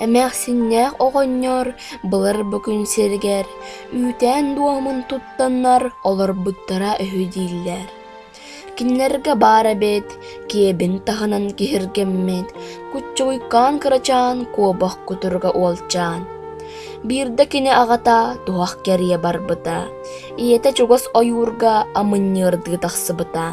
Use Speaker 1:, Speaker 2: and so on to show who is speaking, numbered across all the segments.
Speaker 1: Эмээхсиннээх оҕонньор былыр бу күн сиригэр үүтээн-дуоһумун туттаннар олорбуттара үһү дииллэр. Кинилэргэ баар эбит киэбин таһынан киһиргэммит куччугуйкаан кырачаан куобах кутуруга уолчаан. Биирдэ кини аҕата туһах кэрийэ барбыта. ийэтэ чугас ойуурга амынньыардыы тахсыбыта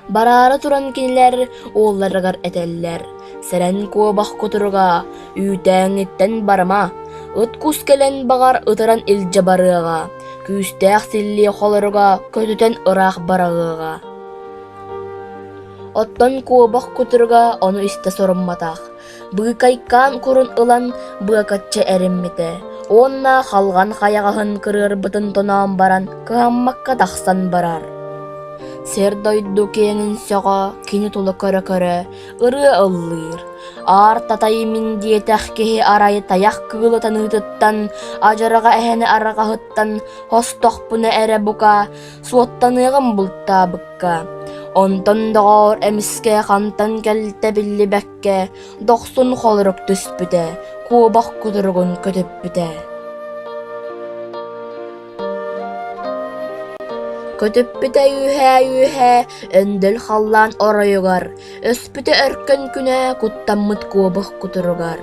Speaker 1: Бараары туран кинилэр уолларыгар этэллэр «Сэрэн куобах кутуруга, үүтээҥҥиттэн барыма, ыт кус кэлэн баҕар ытыран илдьэ барыаҕа, күүстээх силлиэ холоруга көтүтэн ыраах бараҕыаҕа». Оттон куобах кутуруга ону истэ сорумматах, Быыкайкаан курун ылан быакаччы эриммитэ уонна халҕан хайаҕаһын кырыарбытын тоноон баран кыһаммакка тахсан барар. Сэр-дойду киэҥин сөҕө кини тула көрө-көрө ырыа ыллыыр. Аар татай мин диэтэх киһи арай тайах кыыла таныытыттан, адьарҕа эһэни арҕаһыттан хостохпуна эрэ бука суоттаныаҕым бултаабыкка. Онтон доҕоор эмискэ хантан кэлтэ биллибэккэ көмүскэ дохсун холорук түспүтэ, куобах кутуругун көтүппүтэ. Көтүппүтэ үһээ-үһээ өндөл халлаан оройугар, өспүтэ өркөн күнэ куттаммыт куобах кутуругар.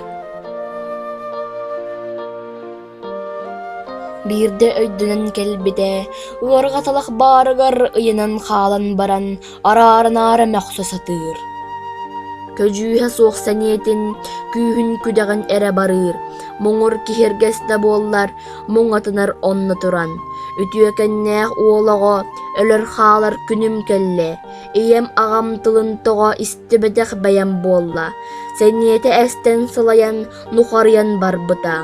Speaker 1: Биирдэ өйдөнөн кэлбитэ, уорҕаталах баарыгар ыйанан хаалан баран араарынаары мөхсө сатыыр. Көдьүүһэ суох сэниэтин, күүһүн күдэҕин эрэ барыыр. Муҥур киһиргэс да буоллар, муҥатынар онно туран. Үтүөкэннээх уол оҕо өлөр-хаалар күнүм кэллэ. Ийэм аҕам тылын тоҕо истибэтэх бэйэм буолла. Сэниэтэ эстэн сылайан, нухарыйан барбыта.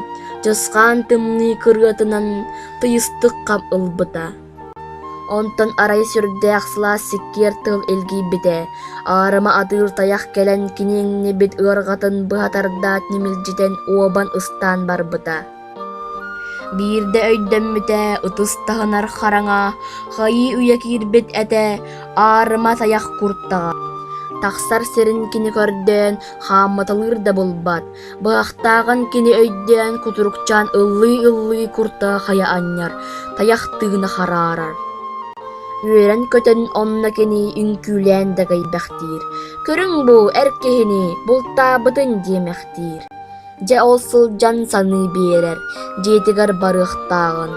Speaker 1: Чысхаан тымныы кырыатынан тыйыстык хап ылбыта. Онтон арай сүрдээх сылаас сиккиэр тыл илгийбитэ, аарыма атыыр тайах кэлэн киниҥнибит ыарҕатын быһа тардаат ньимилдьитэн уобан ыстаан барбыта. Биирдэ өйдөммүтэ ытыстаһынар хараҥа, хайыы үйэ киирбит этэ, аарыма тайах куртаҕа. Тахсар сирин кини көрдөөн хаамматалыыр да булбат, Быһахтааҕын кини өйдөөн кутурукчаан ыллыы-ыллыы курта хайа анньар, тайахтыына хараарар. Үөрэн-көтөн онно кини үҥкүүлээн дэгэйбэхтиир. «Көрүҥ бу эр киһини, бултаабытын» диэмэхтиир. Дьэ ол сылдьан саныы биэрэр, дьиэтигэр барыахтааҕын.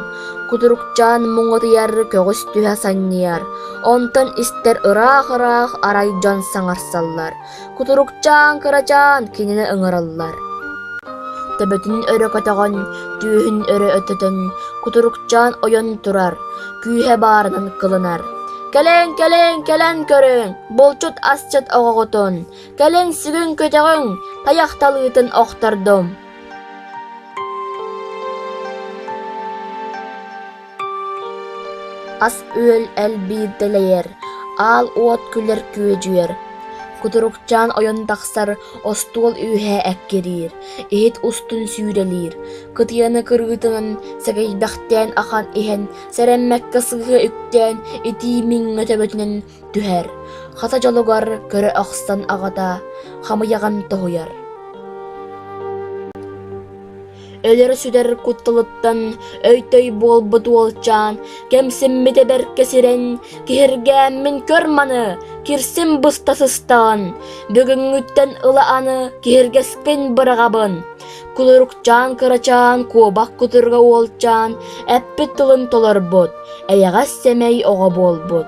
Speaker 1: Кутурукчаан муҥутуйар көҕүс түһэ санньыйар, онтон истэр ыраах-ыраах арай дьон саҥарсаллар. Кутурукчаан кырачаан кинини ыҥыраллар. Төбөтүн өрө көтөҕөн, түөһүн өрө өтөтөн, кутурукчаан ойон турар, күүһэ баарынан кылынар. Кэлэн, кэлэн, кэлэн көрүҥ, булчут асчыт оҕоҕутун, кэлин сүгүн-көтөҕүҥ, тайахталыытын охтордум. ас-үөл элбиир дэлэйэр, аал уот күлэр күөдьүйэр, кутурукчаан ойон тахсар остуол үөһэ эккириир, иһит устун сүүрэлиир, кытыаны кырыытынан сэгэйбэхтээн ахан иһэн сэрэммэккэ сыһыа үктээн итии миҥҥэ төбөтүнэн түһэр, хата дьолугар көрө охсон аҕата хамыйаҕын тоһуйар. Өлөр-сүтэр кутталыттан өйдөй буолбут уолчаан кэмсиммитэ бэркэ сирэн киһиргээммин көр маны кирсим буста сыстаҕын бүгүҥҥүттэн ыла аны киһиргэскин быраҕабын кулуруктаан кырачаан куобах кутурга уолчаан эппит тылын толорбут эйэҕэс сэмэй оҕо буолбут